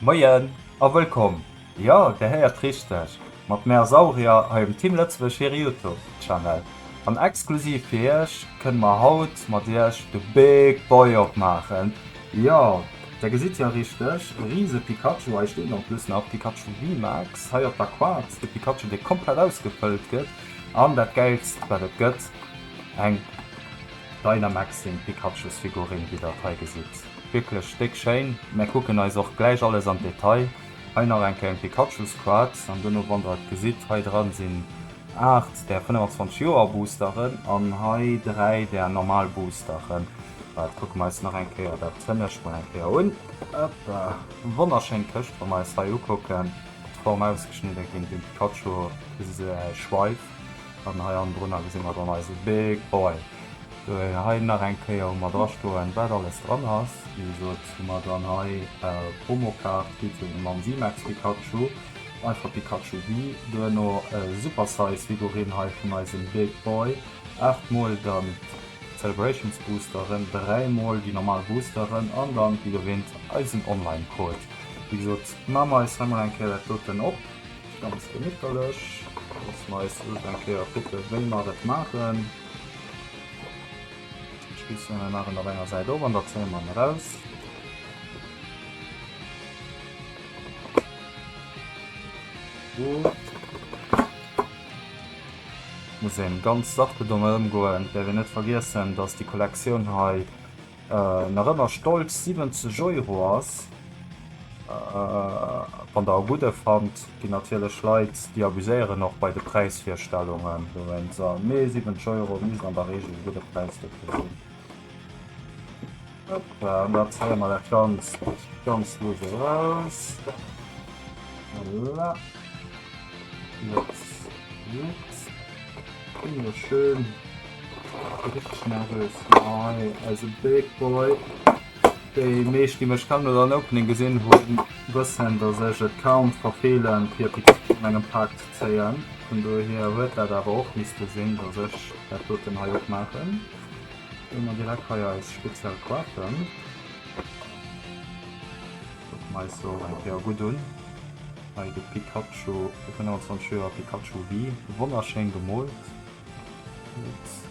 Moien a wëllkomm! Jo, Dir héiert richteg, mat Mär Saurier hei um Team Lëtzebuerg hire Youtube Channel. An exklusiv fir Iech kënne mer haut mat Iech de Big Boy opmaachen. Jo, Der gesitt jo richteg, e riise Pikachu, hei steet en plus nach Pikachu VMAX, hei op der Quad de Pikachu dee komplett ausgefëllt gëtt. An dat Gäilst wat et gëtt, eng Dynamaxing Pikachusfigurinn wéi Der et hei gesitt. wierklech déck schéin. Mär kucken eis och gläich alles am Detail. Hei nach eng Kéier en Pikachu Squad an duerno wann der et gesitt hei dran sinn 8 der 25 Joer Boosteren an hei 3 der normal Boosteren. Waart kucke mer eis nach eng Kéier dat hënnescht mol eng Kéier un. Hoppa, wonnerschéin Këscht. Wa mer eis hei ukucken, d'Form ausgeschnidde ginn, den Pikachu, e Schweif, An hei andrënner gesi mer dann eise Big Boy. Wou een hei nach eng Kéier hu mer drastoen, wat alles dran ass. Wéi gesot hu mer dann hei Promokaart kritt fir de Mam Simex Pikachu, einfach Pikachu Wii. Duerno e Super Size Figurine hei vun eisem Big Boy, 8 mol, dann d'Celebrations Boosteren, 3 mol déi normal Boosteren an dann, wéi erwähnt, eisen Online Code. Wéi gesot, maache mer eis hei mol eng Kéier dat doten op. Ganz gemitterlech. Loosse mer eis just eng Kéier kucken, wéi mer et maachen. Spießungen machen auf enger Seite oben, da zählen man raus. Gut. Muss eben ganz sachte domme ëmgoen. Däerf een net vergiessen, dass déi Kollektioun hei nach ëmmer stolz 70 Euro ass. Wann der e gudde fannt, ginn natierlech Leit, déi abuséieren och bei de Präisvirstellungen. Mee 70 Euro misst an der Reegel e gudde Präis dofir sinn. An da zéie mer dat ganz ganz lues eraus. Voilà. Jetzt. Wunderschön. Richtig nervös. Nein, also Big Boy. Die meisten, die mich kennen oder ein Opening gesehen haben, wissen, dass ich es kaum verfehlen, vier Pikachu an einem Pack zu ziehen. Von daher wird das aber auch müsste sehen, dass ich das dort hier auch machen. Wenn wir direkt hier als speziell Quarten. Guck mal so ein Pair gut an. Hei de Pikachu fir 25 Joer Pikachu Wii. Wonnerschéin gemoolt. Wierklech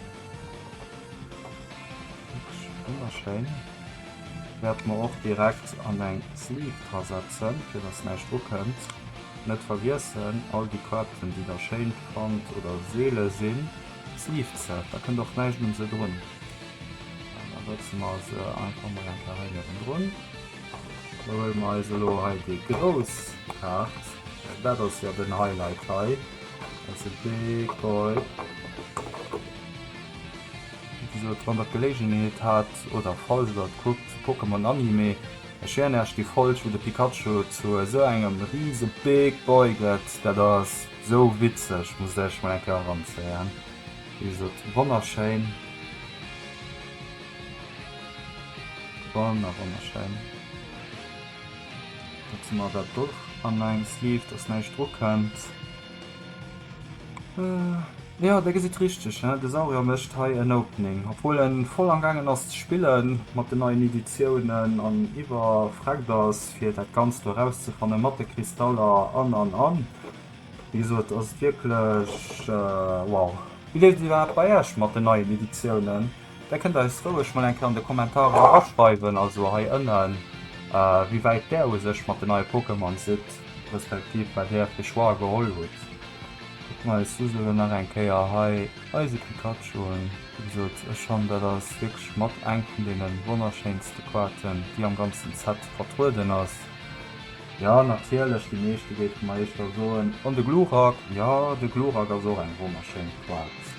wonnerschéin. Wäert mer och direkt an eng Sleeve dra setzen, fir dass näischt drukënnt. Net vergiessen, all déi Kaarten, déi der schéin fannt oder seele sinn, Sleeved se. Da kënnt och näischt un se drun. Da setze mer se einfach mol eng Kéier hei niewendrun. Da huele mer eis elo hei déi grouss Kaart. Dat ass jo den Highlight hei. Dat ass e big boy. Wéi gesot, wann der d'Geléigenheet hat oder falls der et kuckt, Pokémon Anime, ech schwéieren iech, déi Folg, wou de Pikachu zu esou engem rise big boy gëtt, dat ass esou witzeg, musst der iech mol eng Kéier eranzéien. Wéi gesot, wonnerschéin. Banner ronnerschäin. Dat si mer dat och an engem Sleeve, dass näischt drukënnt. Jo, Dir gesitt richteg, de Saurier mécht hei en Opening. Obwuel e voll am gaangen ass ze spille mat den neien Editiounen an iwwerfreckt ass, fir dat Ganzt do erauszefanne mat de Kristaller an an an. Wéi gesot, ass et wierklech wow. Wéi leeft et iwwerhaapt bei Iech mat den neien Editiounen? Där kënnt eis roueg mol eng Kéier an de Kommentarer eraschreiwen, also hei ënnen, wéi wäit Där u sech mat den neie Pokémon sidd, respektiv wat Dir fir Choix geholl hutt. Kucke mer eis just elo nach eng Kéier hei eise Pikachu un. Wéi gesot, ech fannen, dat ass wierklech mat eng vun deene wonnerschéinste Kaarten, déi am ganzen Set vertrueden ass. Jo, natierlech, déi meeschte géife mer éischter soen, an de Glurak, jo, de Glurak ass och eng wonnerschéin Kaart.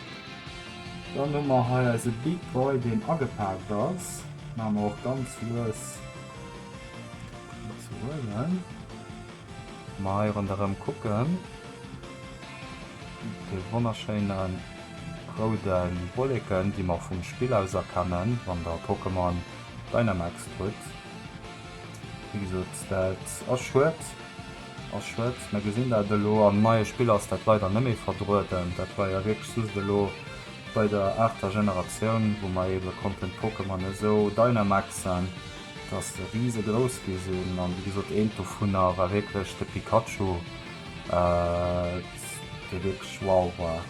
Dann hu mer hei eise Big Boy deen agepaakt ass, maache mer och ganz lues fir ze huelen. Wa mer hei ronderëm kucken, dee wonnerschéine roude Wolleken déi mer vum Spill aus erkennen, wann der Pokémon Dynamax krut, wéi gesot dat ass schued. Ass Schrëtt. Mer gesinn dat elo am neie Spill ass dat leider net méi vertrueden. Dat war jo wierklech just elo bei der aachter Generatioun, wou mer eebe konnten d'Pokémon esou dynamaxen, dass se risegrouss gi sinn. An wéi gesot, eent dovunner war wierklech de Pikachu, dee wierklech wow war.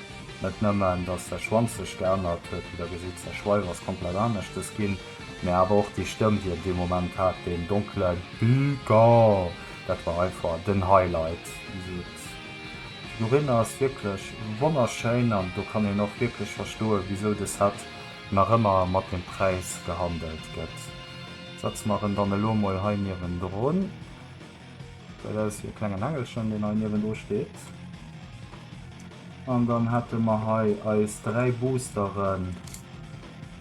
Net nëmmen, dass säi Schwanz sech geännert huet, wéi Der gesitt, säi Schweif ass komplett aneschters ginn, mä awer och déi Stëmm, déi en dee Moment hat, deen donkele Pika! Dat war einfach den Highlight. Also d'Figurine ass wierklech wonnerschéin an do kann een och wierklech verstoen, wisou de Set nach ëmmer mat dem Präis gehandelt gëtt. Setze mer en dann elo mol hei niewendrun. Gesäit aus wéi e klengen Engelchen, deen hei niewendru steet. An dann hätte mer hei eis dräi Boosteren.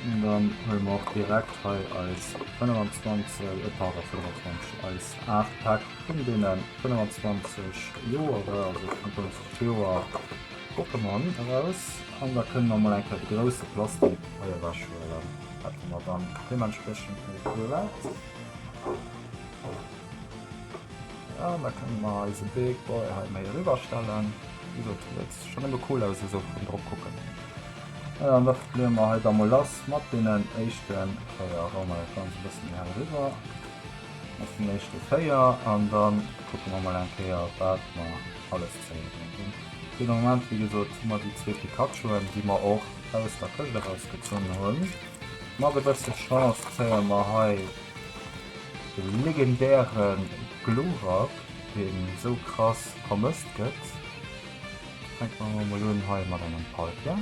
An dann huele mer och direkt hei eis 25, e pardon 25, eis 8 Päck vun deene 25 Joere, also 25 Joer Pokémon eraus. An da kënnen mer mol eng Kéier de grousse Plastik hei ewechhuelen, wat mer dann deementspriechend hei do läit. Voilà, an da kënnen mer eise Big Boy hei méi eriwwerstellen. Wéi gesot, dat gesäit schonn nëmme cool aus, esou vun drop kucken. Voilà, an da probéiere mer hei da mol lass mat deenen éischten, oh jo, hou mer dat Ganzt e bëssen méi hell eriwwer, mat den éischten 4 an dann kucke mer mol eng Kéier wat mer alles kréien. Hunn fir de Moment wéi gesot hu mer déi zwee Pikachuen, déi mer och aus der Këscht eraus gezunn hunn. Mat e bësse Chance kréie mer hei de legendäre Glurak, deen esou krass vermësst gëtt. Fänke mer emol mol un hei mat engem Palkia,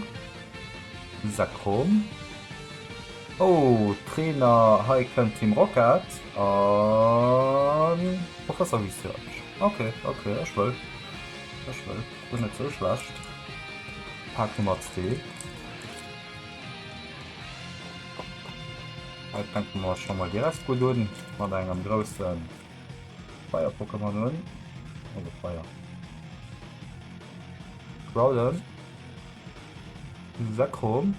Lisa Chrom. Oh, Trainer, hei kënnt Team Rocket a Professor Research. Ok, ok, ech wëll, ech wëll. Ass net sou schlecht. Pak Nummer zwee. Hei fänke mer scho mol direkt gutt un mat engem groussen. Feier Pokémon hun oder Feier Groudon Zekrom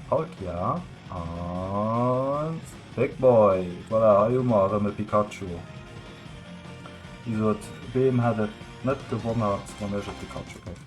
Palkia an Big Boy voilà, hei hu mer rëm e Pikachu Wéi gesot, Beem hätt et net gewonnert wann ech e Pikachu géif.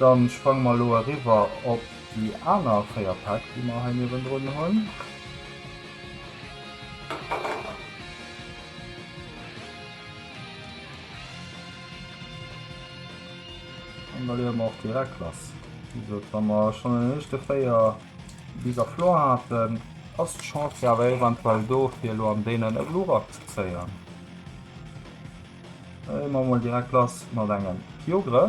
Dann sprange mer elo eriwwer op déi aner 4 Päck déi mer hei niewendrun hunn. An da leeë mer och direkt lass. Wéi gesot, wa mer schonn en éischte Véier bis a Flor haten, ass d'Chance jo awer eventuell do fir elo an deenen e Glurak ze zéien. Da leeë mer emol direkt lass mat engem Kyogre.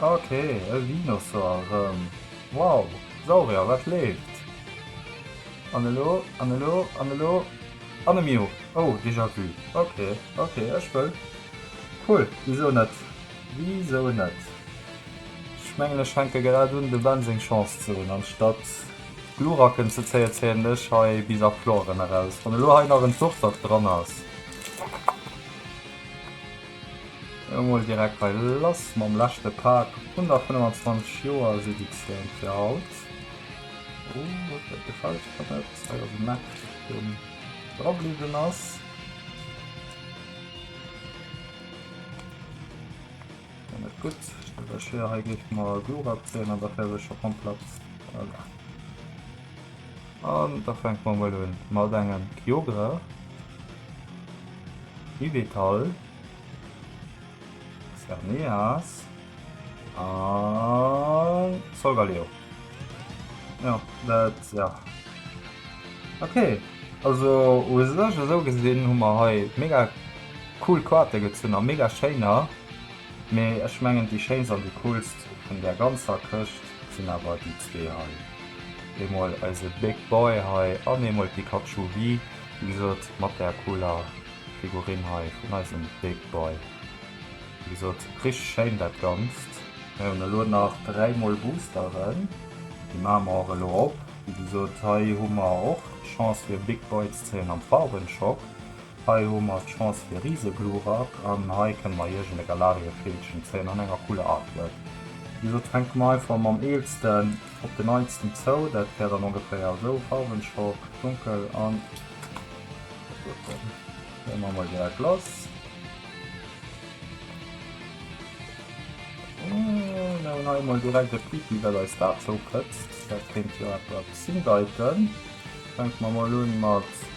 Ok, e Winosaur erëm. Wow, Saurier, wat leeft? An elo, an elo, an elo, an e Mew! Oh, déjà vu. Ok, ok, ech wëll. Cool, wisou net, wisou net? Ech mengen, ech fänke grad un, de Ben seng Chance ze hunn, anstatt Gluracken ze zéien, zéien ech hei Bisafloren eraus. Wann elo hei nach en Surfsack dran ass. Emol direkt hei lass mam leschte Pak. 125 Joer ZX-Game fir haut. Oh, dat gefällt mir net. Hei ass e Mech, den drabliwwen ass. net gut schwer he geet mal Glurak zeen an der Fäsescher komplett. An da fänke mer emol un mat engem Kyogre, Yveltal, Xerneas a Solgaleo. Jo, dat, jo. Ok, also u sech esou gesinn hu mer hei mega cool Kaarte gezunn a mega schéiner. Mee ech mengen déi schéinst an déi coolst vun där ganzer Këscht sinn awer déi zwee hei. Eemol eise Big Boy hei an eemol d'Pikachu Wii, wéi gesot mat der cooler Figurine hei vun eisem Big Boy. Wéi gesot richteg schéin dat Ganzt. Mir hunn elo nach dräi mol Boosteren, déi maache mer och elo op. Wéi gesot hei hu mer och d'Chance fir e Big Boy ze kréien am Farbenshop. Hei hu mer d'Chance fir Riseglurak an hei kënne mer Iech en Galariefeelchen zéien an enger cooler Artwork. Wéi gesot fänke mer einfach mam eelsten op den neitsten zou, dat wär dann ongeféier esou, Farwenschock, dunkel an duerfen. Léi mer emol direkt lass. Mir hunn hei emol direkt e Pipi wat eis dat zou këtzt, dat kéint jo eppes hindeiten. Fänke mer emol un mat.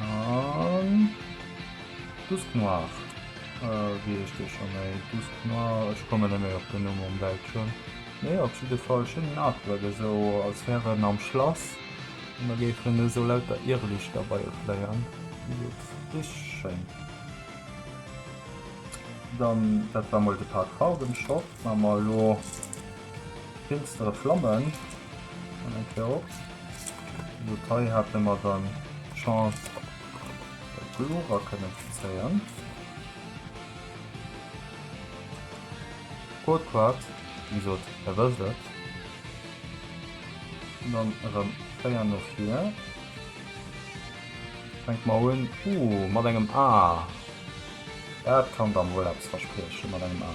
An Dusk Noir. Äh, wéi heescht dee scho méi? Dusk Noir, ech kommen net méi op den Numm um Bildschirm. Mee op jidde Fall schéinen Artwork, esou als wär en am Schlass an da géifen esou lauter Irrlichter bei e fléien. Jupps, richteg schéin. Dann, dat war mol de Part Farwenshop. Wa mer elo. Finstere Flammen an eng Kéier op. Lo hei hate mer dann d'Chance e Pullover kënnen ze zéien. Cold Quad, wéi gesot, der wësst et. An dann erëm 4 no vir. Fänke mer un, uh, mat engem A. Dat kann dann wuel eppes verspriechen, mat engem A.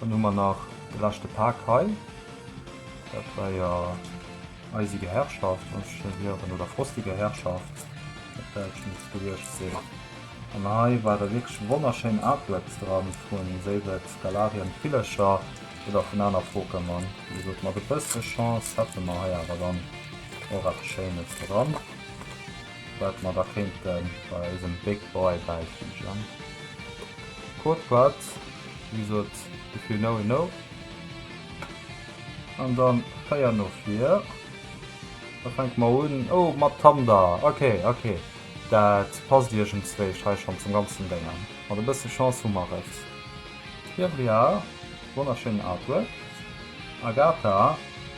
Dann hu mer nach de leschte Pak hei, dat war jo eisiger Herrschaft muss ech héieren, oder frostiger Herrschaft op Däitsch muss et gewiescht sinn. An hei ware wierklech wonnerschéin Artworks dran vu séi et Galarien d'Villecher oder vun aner Pokémon. Wéi gesot mat e bësse Chance hätte mer hei awer dann och eppes Schéines dran. wat mer da kéinte bei eisem Big Boy bäifügen. Code Part, wéi gesot, if you know, you know. An dann Féier no vir. Da fänke mer un, oh, mat Thunder, ok, ok. Dat passt iergendswéi hei schonn zum ganzen Déng an. Mat e bësse Chance hu mer et. D'Fievria, wonnerschéinen Artwork. Agatha,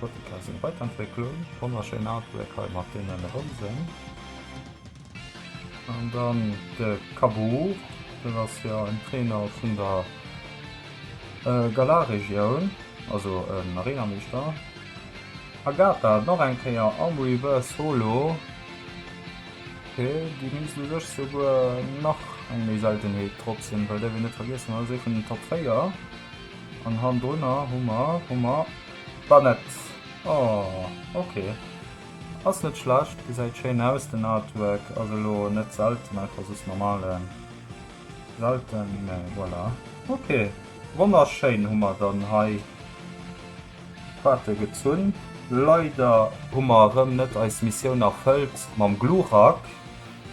Foto aus enger Weiterentwécklung, wonnerschéin Artwork hei mat deenen Rousen. An dann de Kaboul, dat ass jo en Trainer vun der Galar-Regioun, also en Arena-Meeschter. Agatha nach eng Kéier am Reverse Holo, ok, déi misst u sech souguer nach eng méi Seltenheet drop sinn, well däerf een net vergiessen, dat ass ee vun den Top 4. An hannendrunner hu mer, hu mer d'Banette. Oh, ok. Ass net schlecht, gesäit schéin aus den Artwork. Ass elo net selten einfach soss normale, selten, mee voilà. Ok, wonnerschéin hu mer dann hei. Faarten gezunn. Leider hu mer erëm net eis Missioun erfëllt mam Glurak,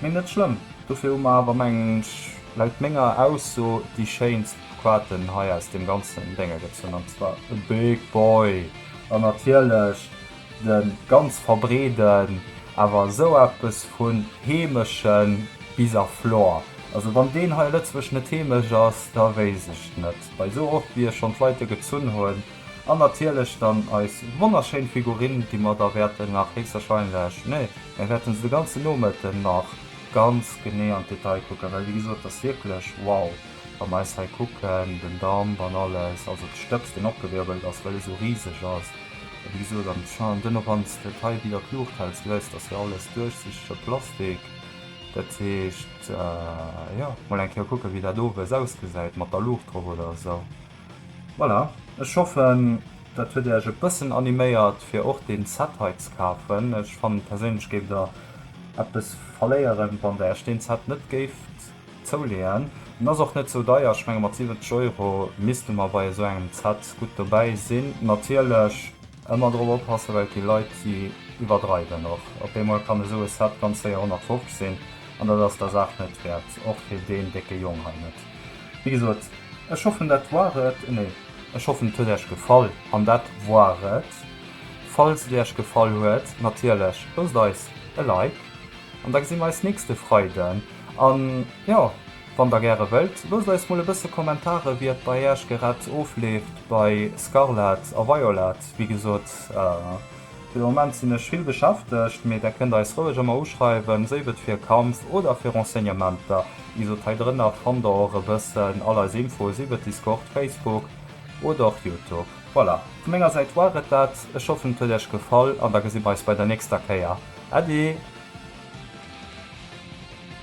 mee net schlëmm. Dofir hu mer awer, mengen ech, laut menger Ausso déi schéinst Quaten hei aus deem ganzen Dénger gezunn, an zwar e Big Boy an natierlech de ganz verbreeden, awer esou eppes vu heemeschen Bisaflor. Also wann deen hei a Lëtzebuerg net heemesch ass, da wéisst ech net. Bei sou oft wéi ech schon d'Leite gezunn hun, an natierlech dann eis wonnerschéin Figurine, déi mer da wäerten nach héchstwahrscheinlech, nee, mär wäerten se de ganzen Nomëtten nach ganz genee an d'Detail kucken, well wéi gesot, d'ass wierklech wow, wa mer eis hei kucken, den Damp an alles, also de Stëbs deen opgewirbelt ass, well e sou riseg ass, a wéi gesot, an d'Chan, duerno wann s de d'hei widder d'Luucht häls, gesäis d'ass jo alles duerchsichtege Plastik, dat heescht. Jo, mol eng Kéier kucken, wéi dat owes ausgesäit mat der Luucht drop oder esou. Voilà, ech hoffen, dat huet Iech e bëssen animéiert, fir och deen Set hei ze kafen. Ech fannen perséinlech, géift Der eppes verléieren, wann Der Iech deen Set net géift zouleeën. En ass och net sou deier, ech menge mat 70 Euro misste mer bei esou engem Set gutt dobäi sinn, natierlech. Ëmmer drop oppassen, well et gi Leit, déi iwwerdreiwen. Och op eemol kann esou e Set ganz séier 150 sinn, an dat ass der Saach net wäert, och fir deen décke Jong hei net. Wéi gesot, ech hoffen dat woar et, nee, ech hoffen et huet äech gefall, an dat woar et. Falls et äech gefall huet, natierlech loosst eis e Like, an da gesi mer eis nächste Freiden, an jo, Wann der gäre wëllt, loosst eis mol e bësse Kommentare wéi et bei äech gerad ofleeft bei Scarlet a Violet. Wéi gesot, fir de Moment sinn ech vill beschäftegt, mee der kënnt eis roueg ëmmer uschreiwen, séif et fir Kampf oder fir Renseignementer. Wéi gesot, hei drënner fannt der och e bëssen all eis Infoe, sief et Discord, Facebook oder och Youtube. Voilà, vu menger Säit war et dat. Ech hoffen et huet äech gefall an da gesi mer eis bei der nächster Kéier. Äddi!